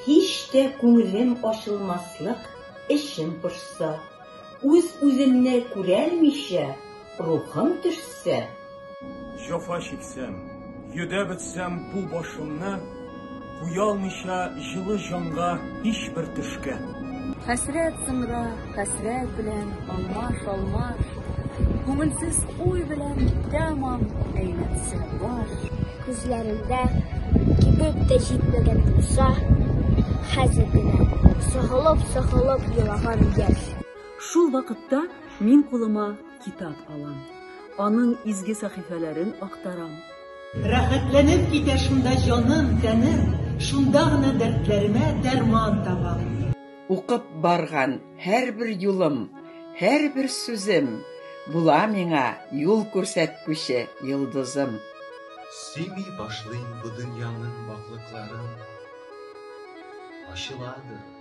Һич тә күңелем ачылмаслык эшем пошса, Үз-үземне күрәлмичә рухым төшсә. Җафа чиксәм, йөдәп үтсәм бу башымны, Уялмыйча җылы җанга һичбер төшкә. Хәсрәт сыңра, хәсрәт белән алмаш-алмаш, Күңелсез уй белән тәмам әйләнсә баш. Күзләрендә кибеп тә җитмәгән булса, Хәзер генә сыгылып-сыгылып елаган яшь. Шул вакытта мин кулыма. Китап алам. Аның изге сәхифәләрен актарам. Рәхәтләнеп китә шунда җаным, тәнем, шунда гына дәртләремә дәрман табам. Укып барган һәрбер юлым, һәрбер сүзем була миңа юл күрсәткүче йолдызым. Сөйми башлыйм бу дөньяның ваклыкларын, ачыладыр.